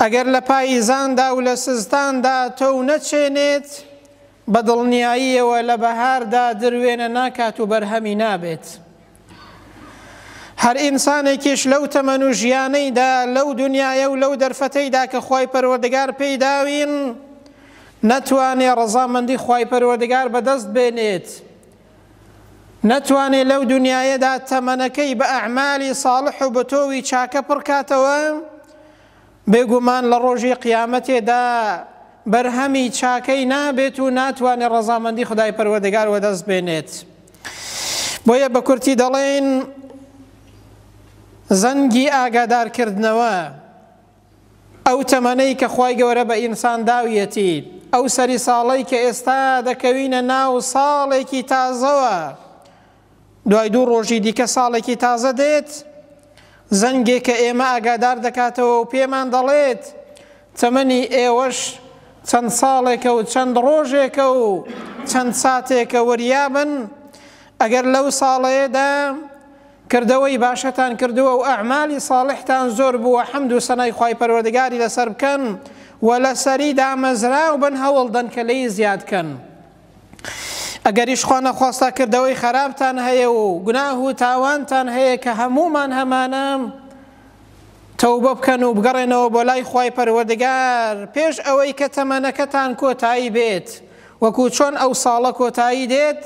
ئەگەر لە پاییزاندا و لە سزتاندا تۆو نەچێنێت، بە دڵنیاییەوە لە بەهاردا دروێنە ناکات و بەرهەمی نابێت. هەر ئینسانێکیش لەو تەمەن و ژیانەیدا، لەو دنیایە و لەو دەرفەتەیدا کە خوای پەروەردگار پێی داوین، نەتوانێ ڕەزامەندی خوای پەروەردگار بەدەست بێنێت نەتوانێ لەو دونیایەدا تەمەنەکەی بە ئەعمالی ساڵح و بەتۆوی چاکە پڕکاتەوە بێگومان لە ڕۆژی قیامەتێدا بەرهەمی چاکەی نابێت و ناتوانێت ڕەزامەندی خدای پەروەردگار وەدەست بێنێت بۆیە بە کورتی دەڵێن زەنگی ئاگادارکردنەوە ئەو تەمەنەی کە خوای گەورە بە ئینسان داویەتی، ئەو سەری ساڵەی کە ئێستا دەکەوینە ناو ساڵێکی تازەوە، دوای دوو ڕۆژی دیکە ساڵێکی تازە دێت، زەنگێکە ئێمە ئاگادار دەکاتەوە و پێمان دەڵێت تەمەنی ئێوەش چەند ساڵێکە و چەند ڕۆژێکە و چەند ساتێکە، وریابن ئەگەر لەو ساڵەیەدا کردەوەی باشتان کردووە و ئەعمالی ساڵحتان زۆر بووە حەمد و سەنای خوای پەروەردگاری لەسەر بکەن و لەسەری دامەزراو بن هەوڵدەن کە لێی زیاد کەن ئەگەریش خوا نەخواستە کردەوەی خەراپتان هەیە و گوناه و تاوانتان هەیە کە هەموومان هەمانە تەوبە بکەن و بگەڕێنەوە بۆ لای خوای پەروەردگار پێش ئەوەی کە تەمەنەکەتان کۆتایی بێت وەکو چۆن ئەو ساڵە کۆتایی دێت،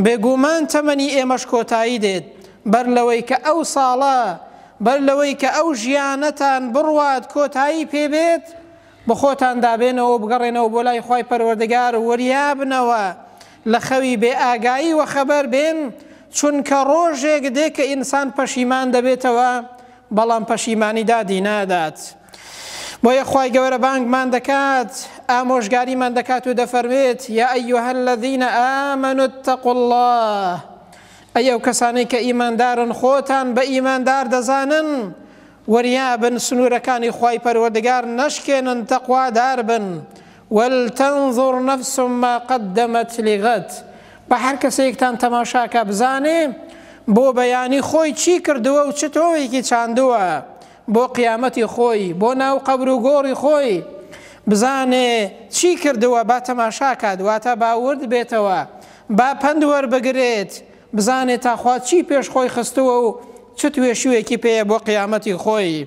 بێگوومان تەمەنی ئێمەش کۆتایی دێت، بەر لەوەی کە ئەو ساڵە، بەر لەوەی کە ئەو ژیانەتان بڕوات کۆتایی پێ بێت، بەخۆتاندا بێنەوەو بگەڕێنەوە بۆ لای خوای پەروەردگار و وریابنەوە لە خەوی بێ ئاگایی وەخەبەر بێن، چونکە ڕۆژێک دێ کە ئینسان پەشیمان دەبێتەوە بەڵام پەشیمانی دادی نادات بۆیە خوای گەورە بانگمان دەکات ئامۆژگاریمان دەکات و دەفەرمێت یا ئەیها الذین آمنوا اتقوا الله ئەی ئەو کەسانەی کە ئیماندارن خۆتان بە ئیماندار دەزانن وریابن سنوورەکانی خوای پەروەردگار نەشکێنن تەقوادار بن ولتنظر نفس ما قدمت لغد، با هەر کەسێکتان تەماشا کا بزانێ بۆ بەیانی خۆی چی کردووە و چ تۆوێکی چاندووە بۆ قیامەتی خۆی، بۆ ناو قەبر و گۆڕی خۆی بزانێ چی کردووە با تەماشا کات واتە با ورد بێتەوە با پەند وەربگرێت بزانێ تا خوا چی پێش خۆی خستووە و چ توێشووێکی پێیە بۆ قیامەتی خۆی.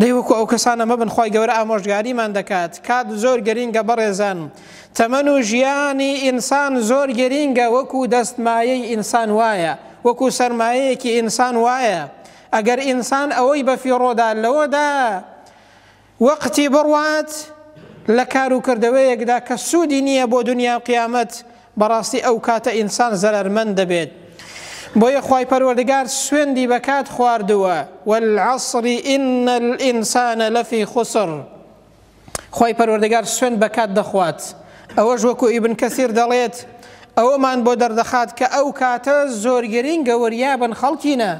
دەی وەکو ئەو کەسانە مەبن خوای گەورە ئامۆژگاریمان دەکات کات زۆر گەرینگە بەڕێزان تەمەن و ژیانی ئینسان زۆر گەرینگە وەکو دەستمایەی ئینسان وایە وەکو سەرمایەیەکی ئینسان وایە ئەگەر ئینسان ئەوەی بەفیڕۆدا لەوەدا وەقتی بڕوات لە کاروکردەوەیەکدا کە سوودی نییە بۆ دنیا و قیامەت بەڕاستی ئەوکاتە ئینسان زەرەرمەند دەبێت بۆیە خوای پەروەردگار سوێندی بە کات خواردووە والعصر ان الانسان لفی خسر خوای پەروەردگار سوێند بە کات دەخوات ئەوەش وەکو ئیبن کەسیر دەڵێت ئەوەمان بۆ دەردەخات کە ئەو کاتە زۆرگەرین گەوەریابن خەڵکینە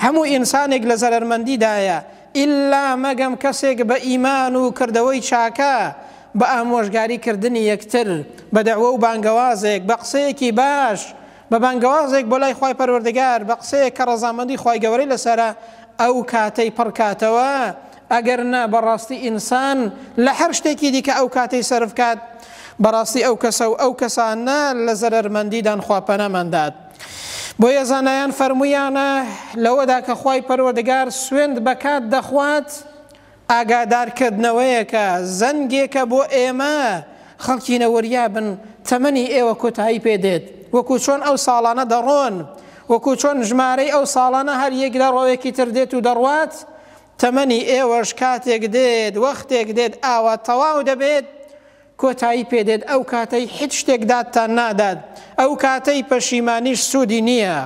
هەموو ئینسانێک لە زەرەرمەندیدایە ئیللا مەگەم کەسێک بە ئیمان و کردەوەی چاکە، بە ئامۆژگاری کردنی یەکتر، بە دەعوە و بانگەوازێک، بە قسەیەکی باش، بە بانگەوازێک بۆ لای خوای پەروەردگار، بە قسەیەک کە ڕەزامەندی خوای گەورەی لەسەرە، ئەو کاتەی پڕ کاتەوە، ئەگەر نا بەڕاستی ئینسان لە هەر شتێکی دیکە ئەو کاتەی سەرف کات بەڕاستی ئەو کەسە و ئەو کەسانە لە زەرەرمەندیدان خوا پەنامان دات. بۆیە زانایان فەرموویانە لەوەدا کە خوای پەروەردگار سوێند بە کات دەخوات ئاگادارکردنەوەیەکە زەنگێکە بۆ ئێمە خەڵکی نەوەریابن تەمەنی ئێوە کۆتایی پێدێت وەکو چۆن ئەو ساڵانە دەڕۆن وەکو چۆن ژمارەی ئەو ساڵانە هەر یەک لە ڕۆوێکی تر دێت و دەڕوات تەمەنی ئێوەش کاتێک دێت وەختێک دێت ئاوا تەواو دەبێت کۆتایی پێ دێت ئەو کاتەی حیچ شتێک دادتان نادات ئەو کاتەی پەشیمانیش سودی نیە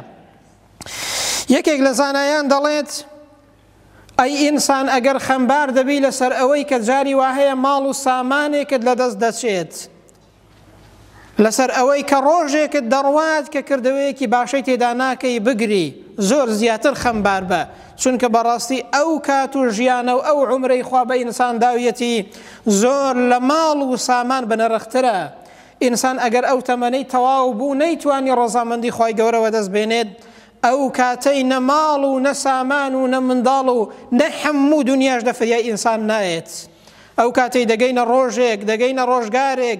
یەکێک لە زانایان دەڵێت ئەی ئینسان ئەگەر خەمبار دەبی لەسەر ئەوەی کە جاری واهەیە ماڵ و سامانێکت لە دەست دەچێت لەسەر ئەوەی کە ڕۆژێکت دەڕوات کە کردەوەیەکی باشەی تێدا ناکەی بگری زۆر زیاتر خەمبار بە چونکە بەڕاستی ئەو کات و ژیانە و ئەو عومرەی خوا بە ئینسان داویەتی زۆر لە ماڵ و سامان بەنرخترە، ئینسان ئەگەر ئەو تەمەنەی تەواو بوو نەیتوانی ڕەزامەندی خوای گەورە وەدەست بێنێت ئەو کاتەی نە ماڵ و نە سامان و نە منداڵ و نە حەموو دونیاش لە فریای ئینسان نایەت ئەو کاتەی دەگەینە ڕۆژێک دەگەینە ڕۆژگارێک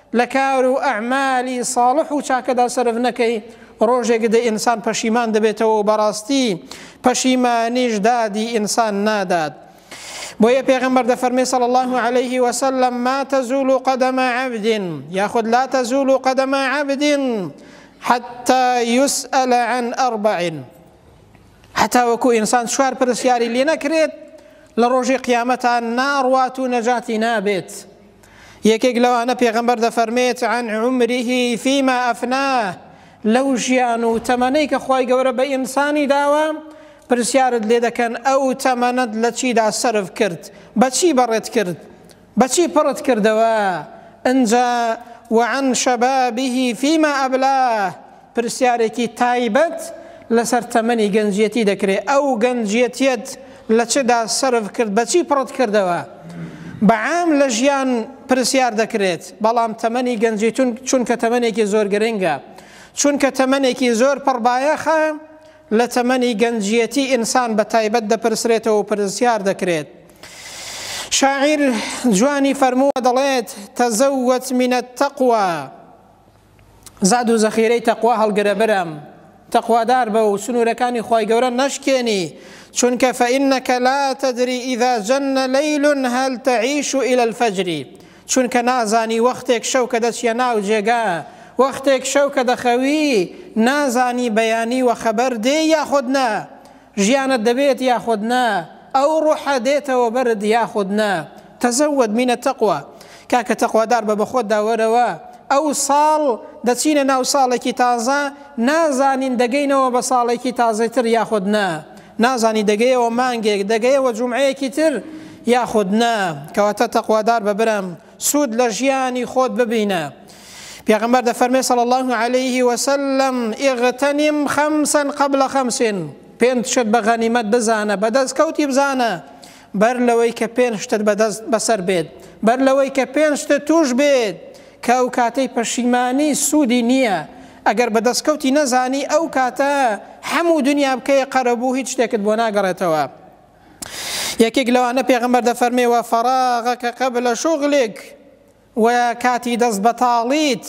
لە کار و ئەعمالی ساڵح و چاکەدا سەرف نەکەی، ڕۆژێک دێ ئینسان پەشیمان دەبێتەوە و بەڕاستی پەشیمانیش دادی ئینسان نادات. بۆیە پێغەمبەر دەفەرمێ صلی اللە علیه وسلم، ما تزول قدم عبد یاخود لا تزول قدم عبد حتی یسئل عن اربع هەتاوەکو ئینسان چوار پرسیاری لێ نەکرێت لە ڕۆژی قیامەتان ناڕوات و نەجاتی نابێت. یەکێک لەوانە پێغەمبەر دەفەرمێت عن عمره فيما افناه لەو ژیان و تەمەنەی کە خی گەورە بە ئینسانی داوە پرسیارت لێ دەکەن ئەو تەمەنەت لە چیدا سرف کرد بەچی بەڕێت کرد بەچی پڕت کردەوە ئەجا وعن شەبابیه فیما ئەبلاه پرسیارێکی تایبەت لەسەر تەمەنی گەنجیەتی دەکرێت، ئەو گەنجیەتیەت لە چدا سەرف کرد، بە چی پڕت کردەوە؟ بە عام لە ژیان پرسیار دەکرێت، بەڵام تەمەنی گەنجیتون چونکە تەمەنێکی زۆر گرنگە، چونکە تەمەنێکی زۆر پڕ بایەخە، لە تەمەنی گەنجیەتی ئینسان بە تایبەت دەپرسرێتەوە و پرسیار دەکرێت. شاعیر جوانی فەرمووە دەڵێت، تزوت من التقوی. زاد و زەخیرەی تەقوا هەڵگرە برام تەقوادار بە و سنوورەکانی خوای گەورە نەشکێنی چونکە فەئینەکە لا تەدری ئیدا جەنە لەیلون هەل تەعیش و ئیلە الفەجری چونکە نازانی وەختێک شەو کە دەچیە ناو جێگا وەختێک شەو کە دەخەوی نازانی بەیانی وە خەبەر دێ یاخود نا ژیانت دەبێت یاخود نا ئەو ڕۆحە دێتەوە بەرت یاخود نا تزود من التقوی کاکە تەقوادار بە بەخۆتدا وەرەوە ئەو ساڵ دەچینە ناو ساڵێکی تازە نازانین دەگەینەوە بە ساڵێکی تازەی تر یاخود نا نازانی دەگەیەوە مانگێک دەگەیەوە جومعەیەکی تر یاخود نا کەواتە تەقوادار بە برام سود لە ژیانی خۆت ببینە پێغمبەر دەفەرمێ صلی الله عليه وسلم اغتنم خمسا قبل خمس پێنج شت بە غەنیمەت بزانە بەدەست کەوتی بزانە بەر لەوەی کە پێنج شتت بەدەست بەسەر بێت بەر لەوەی کە پێنج شتت توش بێت کە ئەو کاتەی پەشیمانی سوودی نییە ئەگەر بەدەستکەوتی نەزانی ئەو کاتە هەموو دنیا بکەیە قەرەبوو هیچ شتێکت بۆ ناگەڕێتەوە یەکێک لەوانە پێغەمبەر دەفەرمێ وە فەراغەک قبل شغلک و کاتی دەست بەتاڵیت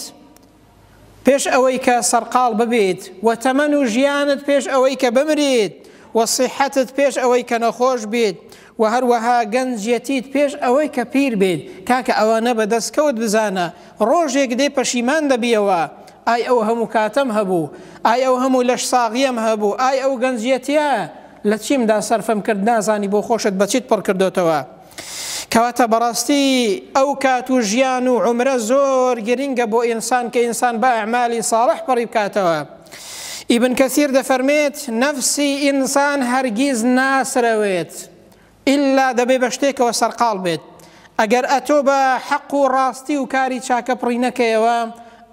پێش ئەوەی کە سەرقاڵ ببیت و تەمەن و ژیانت پێش ئەوەی کە بمریت و صحتت پێش ئەوەی کە نەخۆش بیت و هەروەها گەنجەتیت پێش ئەوەی کە پیر بێت کاکە ئەوانە بە دەستکەوت بزانە ڕۆژێک دێ پەشیمان دەبیەوە ئای ئەو هەموو کاتەم هەبوو ئای ئەو هەموو لەش ساغیم هەبوو ئای ئەو گەنجەتە لە چیم دا سەرفم کرد نازانی بۆ خۆشت بە چیت پڕ کردۆتەوە کەواتە بەڕاستی ئەو کات و ژیان و عمرە زۆر گرنگە بۆ ئینسان کە ئینسان بە ئەعمالی ساڵح پڕی بکاتەوە ئیبن کەثیر دەفەرمێت نەفسی ئینسان هەرگیز ناسرەوێت ئیللا دەبێ بە شتێکەوە سەرقاڵ بێت. ئەگەر ئەتۆ بە حەق و ڕاستی و کاری چاکە پڕی نەکەیەوە،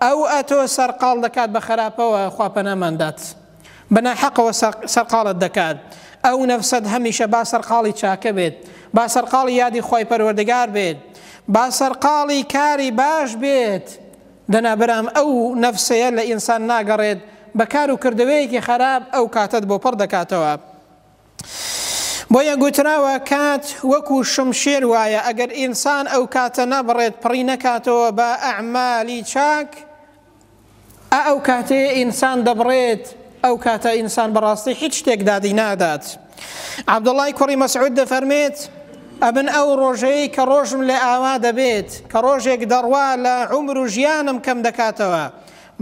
ئەو ئەتۆ سەرقاڵ دەکات بە خەراپەوە، خوا پەنامان دات. بە ناحەقەوە سەرقاڵت دەکات. ئەو نەفسەت هەمیشە با سەرقاڵی چاکە بێت، با سەرقاڵی یادی خوای پەروەردگار بێت، با سەرقاڵی کاری باش بێت. دەنا برام ئەو نەفسەیە لە ئینسان ناگەڕێت بە کار و کردەوەیەکی خەراپ ئەو کاتەت بۆ پڕ دەکاتەوە. بۆیە گوتراوە کات وەکو شمشێر وایە ئەگەر ئینسان ئەو کاتە نەبڕێت پڕی نەکاتەوە بە ئەعمالی چاک ئا ئەو کاتەیە ئینسان دەبڕێت ئەو کاتە ئینسان بەڕاستی هیچ شتێک دادی نادات عبدوڵای کوڕی مەسعود دەفەرمێت ئەبن ئەو ڕۆژەیە کە ڕۆژم لە ئاوا دەبێت کە ڕۆژێک دەڕوا لە عمر و ژیانم کەم دەکاتەوە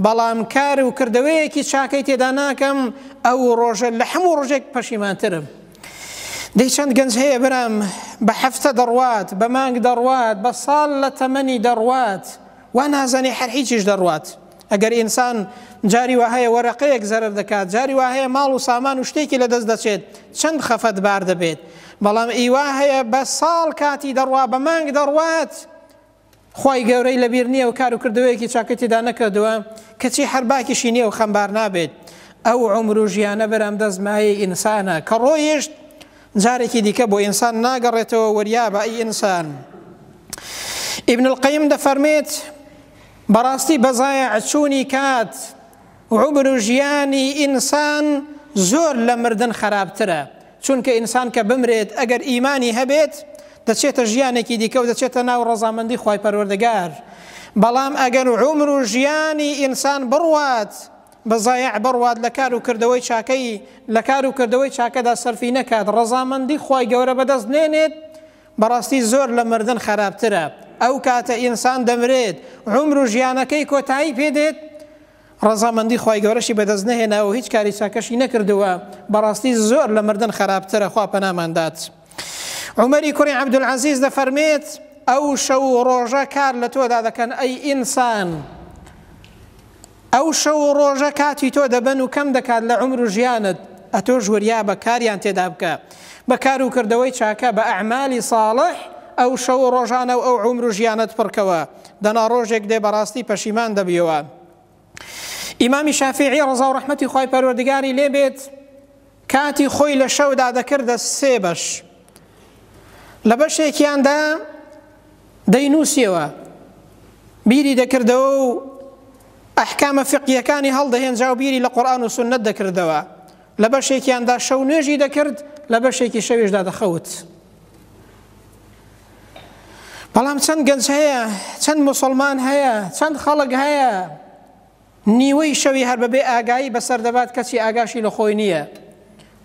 بەڵام کار و کردەوەیەکی چاکەی تێدا ناکەم ئەو ڕۆژە لە حەموو ڕۆژێک پەشیمانترم دەی چەند گەنج هەیە برام بە هەفتە دەڕوات بە مانگ دەڕوات بە ساڵ لە تەمەنی دەڕوات وا نازانی هەر هیچیش دەڕوات ئەگەر ئینسان جاری وهەیە وەرەقەیەک زەرەر دەکات جاری وهەیە ماڵ و سامان و شتێکی لە دەست دەچێت چەند خەفەت بار دەبێت بەڵام ئیوا هەیە بە ساڵ کاتی دەڕوا بە مانگ دەڕوات خوای گەورەی لەبیر نیە و کارو کردەوەیەکی چاکەی تێدا نەکردوە کەچی هەر باکیشی نیە و خەمبار نابێت ئەو عومر و ژیانە برام دەست مایەی ئینسانە کە ڕۆیشت جارێکی دیکە بۆ ئینسان ناگەڕێتەوە وەریابە ئەی ئینسان ئیبن القیم دەفەرمێت بەڕاستی بەزایە ئەچوونی کات عمر و ژیانی ئینسان زۆر لە مردن خراپترە چونکە ئینسان کە بمرێت ئەگەر ئیمانی هەبێت دەچێتە ژیانێکی دیکە و دەچێتە ناو ڕەزامەندی خوای پەروەردگار، بەڵام ئەگەر عومر و ژیانی ئینسان بڕوات بە زایع بڕوات لە کار و کردەوەی چاکەی لە کار و کردەوەی چاکەدا سەرفی نەکات ڕەزامەندی خوای گەورە بەدەست نێنێت بەڕاستی زۆر لە مردن خەراپترە ئەو کاتە ئینسان دەمرێت عومر و ژیانەکەی کۆتایی پێ دێت ڕەزامەندی خوای گەورەشی بەدەست نەهێناوە و هیچ کاری چاکەشی نەکردووە، بەڕاستی زۆر لە مردن خەراپترە، خوا پەنامان دات. عومەری کوڕی عەبدولعەزیز دەفەرمێت، ئەو شەو و ڕۆژە کار لە تۆدا دەکەن ئەی ئینسان، ئەو شەو و ڕۆژە کاتی تۆ دەبەن و کەم دەکات لە عومر و ژیانت، ئەتۆش وریابە کاریان تێدا بکە، بە کار و کردەوەی چاکە، بە ئەعمالی ساڵح ئەو شەو و ڕۆژانە و ئەو عومر و ژیانەت پڕکەوە، دەنا ڕۆژێک دێ بەڕاستی پەشیمان دەبیەوە ئیمامی شافیعی ڕزا و ڕحمەتی خی پەروەردگاری لێ بێت کاتی خۆی لە شەودا دەکردە سێ بەش لە بەشێکیاندا دەینووسیەوە بیری دەکردەوە و ئەحکامە فقیەکانی هەڵدەهێنجا و بیری لە قورآان و سنت دەکردەوە لە بەشێکیاندا شەو نوێژی دەکرد لە بەشێکی شەویشدا دەخەوت. بەڵام چەند گەنج هەیە چەند مسلمان هەیە چەند خەڵک هەیە نیوەی شەوی هەر بەبێ ئاگایی بەسەر دەبات کەچی ئاگاشی لە خۆی نییە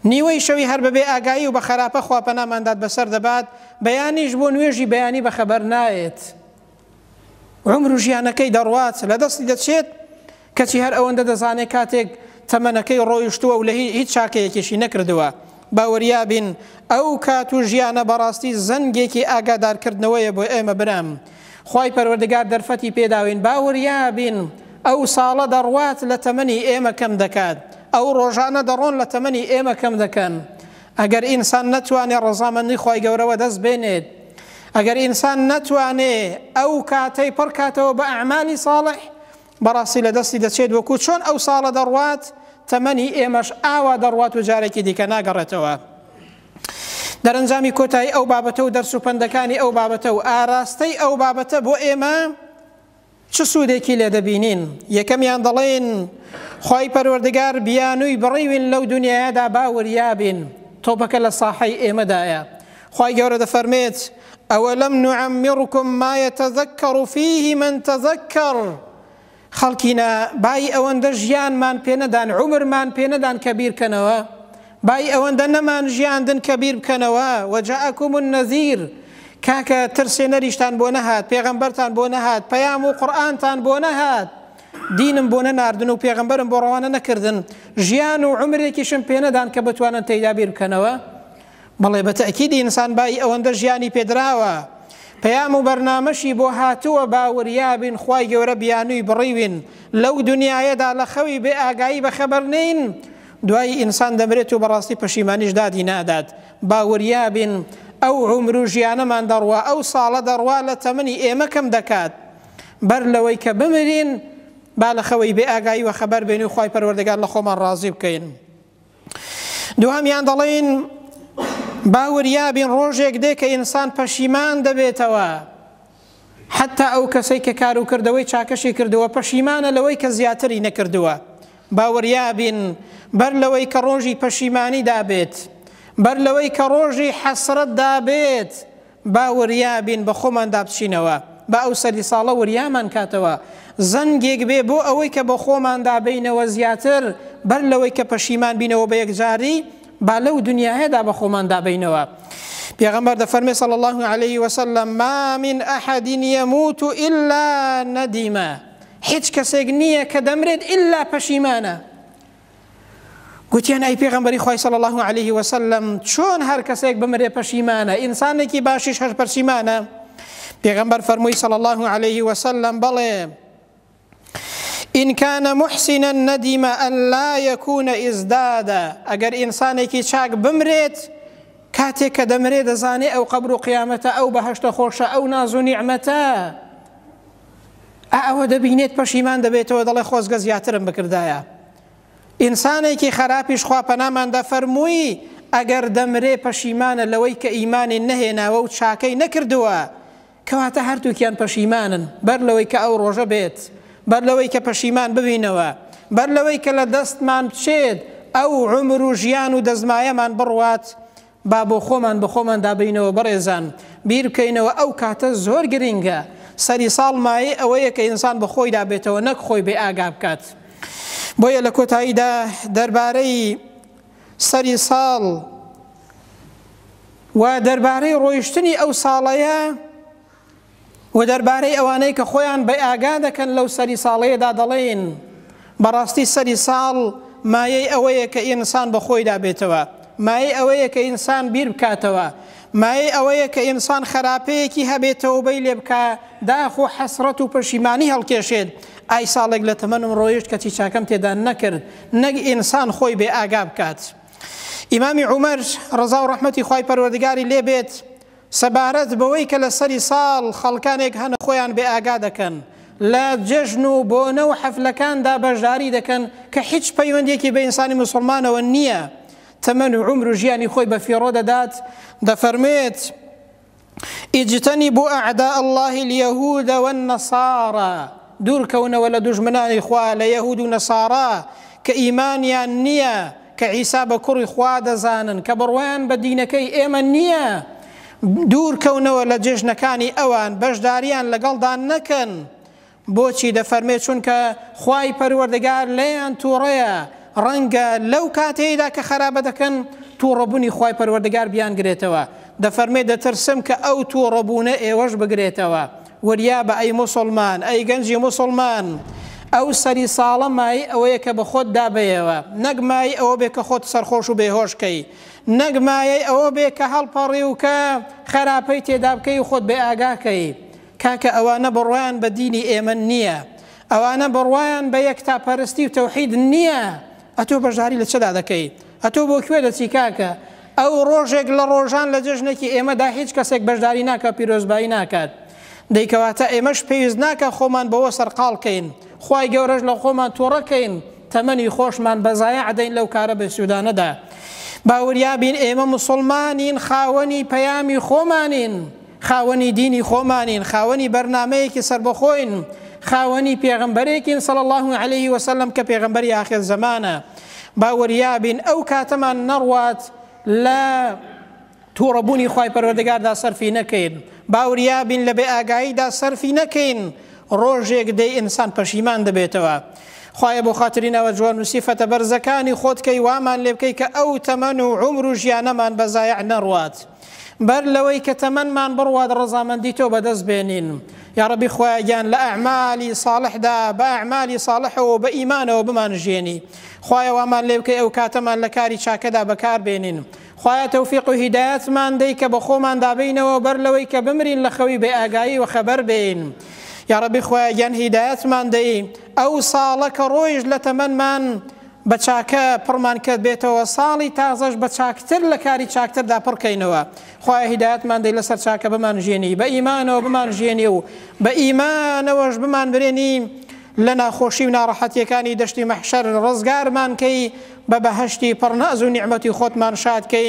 نیوەی شەوی هەر بەبێ ئاگایی و بە خراپە خواپەنامانداد بەسەر دەبات بەیانیش بۆ نوێژی بەیانی بەخەبەر نایێت عومر و ژیانەکەی دەڕوات لە دەستی دەچێت کەچی هەر ئەوەندە دەزانێت کاتێک تەمەنەکەی ڕۆیشتووە و لە هیچ چاکەیەکیشی نەکردووە باوەریابین ئەو کات و ژیانە بەڕاستی زەنگێکی ئاگادارکردنەوەیە بۆ ئێمە برام خی پەروەردگار دەرفەتی پێداوین باوەریابین ئەو ساڵە دەڕوات لە تەمەنی ئێمە کەم دەکات ئەو ڕۆژانە دەڕۆن لە تەمەنی ئێمە کەم دەکەن ئەگەر ئینسان نەتوانێت ڕەزامەندی خی گەورەوە دەست بێنێت ئەگەر ئینسان نەتوانێ ئەو کاتەی پڕ کاتەوە بە ئەعمالی ساڵح، بەڕاستی لە دەستی دەچێت وەکوو چۆن ئەو ساڵە دەڕوات، تەمەنی ئێمەش ئاوا دەڕوات و جارێکی دیکە ناگەڕێتەوە. دەرەنجامی کۆتایی ئەو بابەتە و دەرس و پەندەکانی ئەو بابەتە و ئاراستەی ئەو بابەتە بۆ ئێمە، چ سوودێکی لێ دەبینین؟ یەکەمیان دەڵێن، خوای پەروەردگار بیانووی بڕیوین لەو دونیایەدا با وریا بین، تۆپەکە لە ساحەی ئێمەدایە. خوای گەورە دەفەرمێت، ئەوەلم نعمرکم ما یتذکر فیه من تذکر، خەڵکینە بای ئەوەندە ژیانمان پێ نەدان، عومرمان پێ نەدان کە بیرکەنەوە؟ بای ئەوەندە نەمان ژیاندن کە بیر بکەنەوە، وجاءکم النذیر، کاکە ترسێنەریشتان بۆ نەهات، پێغەمبەرتان بۆ نەهات، پەیام و قورئانتان بۆ نەهات، دینم بۆ نەناردن و پێغەمبەرم بۆ ڕەوانە نەکردن، ژیان و عومرێکیشم پێ نەدان کە بتوانن تێیدا بیر بکەنەوە؟ بەڵێ بە تەئکید ئینسان بای ئەوەندە ژیانی پێ دراوە، پەیام و بەرنامەشی بۆ هاتووە با وریابین خوای گەورە بیانووی بڕیوین لەو دنیایەدا لە خەوی بێ ئاگایی بە خەبەر نین، دوایی ئینسان دەمرێت و بەڕاستی پەشیمانیش دادی نادات. با وریابین ئەو عومر و ژیانەمان دەڕوا، ئەو ساڵە دەڕوا لە تەمەنی ئێمە کەم دەکات. بەر لەوەی کە بمرین با لە خەوی بێ ئاگایی وەخەبەر بین و خوای پەروەردگار لە خۆمان ڕازی بکەین. دووهەمیان دەڵێین با وریابین ڕۆژێک دێ کە ئینسان پەشیمان دەبێتەوە. حەتتا ئەو کەسەی کە کار و کردەوەی چاکەشی کردووە پەشیمانە لەوەی کە زیاتری نەکردووە. باوریابین بەر لەوەی کە ڕۆژی پەشیمانی دابێت، بەر لەوەی کە ڕۆژی حەسرەت دابێت، با وریابین بە خۆماندا بچینەوە، با ئەو سەری ساڵە وریامان کاتەوە، زەنگێک بێ بۆ ئەوەی کە بە خۆماندا بێینەوە زیاتر، بەر لەوەی کە پەشیمان بینەوە بە یەکجاری، با لەو دنیایەدا بە خۆمان دابەینەوە پێغەمبەر دەفەرمێ صلی الله علیه وسلم ما من احد يموت الا ندیمە هیچ کەسێک نییە کە دەمرێت ئللا پەشیمانە گوتیان ئەی پێغمبەری خی صلی الله عليه وسلم چۆن هەر کەسێک بمرێ پەشیمانە ئینسانێکی باشیش هەر پەرسیمانە پێغمبەر فەرمووی صلی الله عليه وسلم بەڵێ ان کان محسنا ندم ان لا یکون ازداد ئەگەر ئینسانێکی چاک بمرێت کاتێک کە دەمرێ دەزانێ ئەو قەبر و قیامەتە ئەو بەهشتە خۆشە ئەو ناز و نیعممەتە ئەوە دەبینێت پەشیمان دەبێتەوە دەڵێ خۆزگە زیاترم بکردایە ئینسانێکی خراپیش خوا پەناماندا فەرمووی ئەگەر دەمرێ پەشیمانە لەوەی کە ئیمانی نەهێناوە و چاکەی نەکردووە کەواتە هەردووکیان پەشیمانن، بەر لەوەی کە ئەو ڕۆژە بێت، بەر لەوەی کە پەشیمان ببینەوە، بەر لەوەی کە لە دەستمان بچێت ئەو عومر و ژیان و دەستمایەمان بڕوات، با بۆ خۆمان بە خۆمان دابەینەوە بەڕێزان، بیر بکەینەوە ئەو کاتە زۆر گرنگە، سەری ساڵ مایەی ئەوەیە کە ئینسان بە خۆیدا بێتەوە نەک خۆی بێ ئاگا بکات. بۆیە لە کۆتاییدا دەربارەی. سەری ساڵ و دەربارەی ڕۆیشتنی ئەو ساڵەیە و دەربارەی ئەوانەی کە خۆیان بە ئاگا دەکەن لەو سەری ساڵەیەدا دەڵێن بەڕاستی سەری ساڵ مایەی ئەوەیە کە ئینسان بە خۆیدا بێتەوە مایەی ئەوەیە کە ئینسان بیر بکاتەوە مایەی ئەوەیە کە ئینسان خراپەیەکی هەبێتەوە بەی لێ بکە داخ و حەسرەت و پەشیمانی هەڵکێشێت ئای ساڵێک لە تەمەنم ڕۆیشت کەچی چاکەم تێدا نەکرد نەک ئینسان خۆی بێ ئاگا بکات. ئیمامی عومەر، ڕەزا و ڕەحمەتی خوای پەروەردگاری لێ بێت، سەبارەت بەوەی کە لە سەری ساڵ خەڵکانێک هەن خۆیان بێ ئاگا دەکەن، لە جەژن و بۆنە و حەفلەکاندا بەشداری دەکەن کە هیچ پەیوەندیەکی بە ئینسانی موسڵمانەوە نییە، تەمەن و عومر و ژیانی خۆی بە فیڕۆ دەدات، دەفەرموێت. اجتنبوا اعداء اللە الیهود والنصارا دوور کەونەوە لە دوژمنانی خوا لە یەهود و نەسارا کە ئیمانیان نیە کە عیسا بە کوڕی خوا دەزانن کە بڕوایان بە دینەکەی ئێمە نیە دوور کەونەوە لە جێژنەکانی ئەوان بەشداریان لەگەڵدا نەکەن بۆچی دەفەرمێ چونکە خوای پەروەردگار لێیان توڕەیە ڕەنگە لەو کاتەیدا کە خەرابە دەکەن توڕەبونی خوای پەروەردگار بیان گرێتەوە دەفەرمێ دەترسم کە ئەو توڕەبونە ئێوەش بگرێتەوە وریابە ئەی موسڵمان ئەی گەنجی موسڵمان ئەو سەری ساڵە مای ئەوەیە کە بە خۆت دابەیەوە نەک مای ئەوە بێ کە خۆت سەرخۆش و بێهۆشکەی نەک مایەی ئەوە بێ کە هەڵپەڕی و کە خەراپەی تێدابکەی و خۆت بێ ئاگاکەی کاکە ئەوانە بڕوایان بە دینی ئێمە نیە ئەوانە بڕوایان بە یەکتا پەرستی و تەوحید نیە ئەتۆ بەژداری لە چدا دەکەی ئەتۆ بۆ کوێ دەچی کاکە ئەو ڕۆژێک لە ڕۆژان لە جەژنێکی ئێمەدا هیچ کەسێک بەژداری ناکا پیرۆزبایی ناکات دەی کەواتە ئێمەش پێویست ناکا خۆمان بەوە سەرقاڵ کەین خوای گەورەش لە خۆمان تۆڕە کەین تەمەنی خۆشمان بە زایع دەین لەو کارە بێسوودانەدا باوریابین ئێمە مسوڵمانین خاوەنی پەیامی خۆمانین خاوەنی دینی خۆمانین، خاوەنی بەرنامەیەکی سەربەخۆین، خاوەنی پێغەمبەرێکین صلی اللە علیە وسلم کە پێغەمبەری ئاخر زەمانە، با وریابین ئەو کاتەمان نەڕوات لە توڕەبوونی خوای پەروەردگاردا سەرفی نەکەین، با وریابین لە بێ ئاگاییدا سەرفی نەکەین، ڕۆژێک دێ ئینسان پەشیمان دەبێتەوە. خوایە بۆ خاتری ناوە جوان و سیفەتە بەرزەکانی خۆت کەی وامان لێبکەی کە ئەو تەمەن و عومر و ژیانەمان بە زایع نەڕوات. بەر لەوەی کە تەمەنمان بڕوات ڕەزامەندی تۆ بەدەست بێنین یاڕەبی خوایە گیان لە ئەعمالی ساڵحدا بە ئەعمالی ساڵحەوە بە ئیمانەوە بمان ژێنی خوایە وامان لێوکەی ئەو کاتەمان لە کاری چاکەدا بەکار بێنین خوایە تەوفیق و هیدایەتمان دەی کە بە خۆمان دابینەوە بەر لەوەی کە بمرین لە خەوی بێ ئاگایی و خەبەر بین یاڕەبی خوایە گیان هیدایەتمان دەی ئەو ساڵە کە ڕۆیش لە تەمەمان بە چاکە پڕمان کە بێتەوە ساڵی تازەش بە چاکتر لە کاری چاکتردا پڕ کەینەوە خوایە هیدایەتمان دەی لەسەر چاکە بمان ژیێنی بە ئیمانەوە بمان ژیێنی و بە ئیمانەوەش بمان برێنی لە ناخۆشی و ناڕەحەتیەکانی دەشتی مەحشەر ڕزگارمان کەی بە بەهەشتی پڕ ناز و نیعمەتی خۆتمان شاد کەی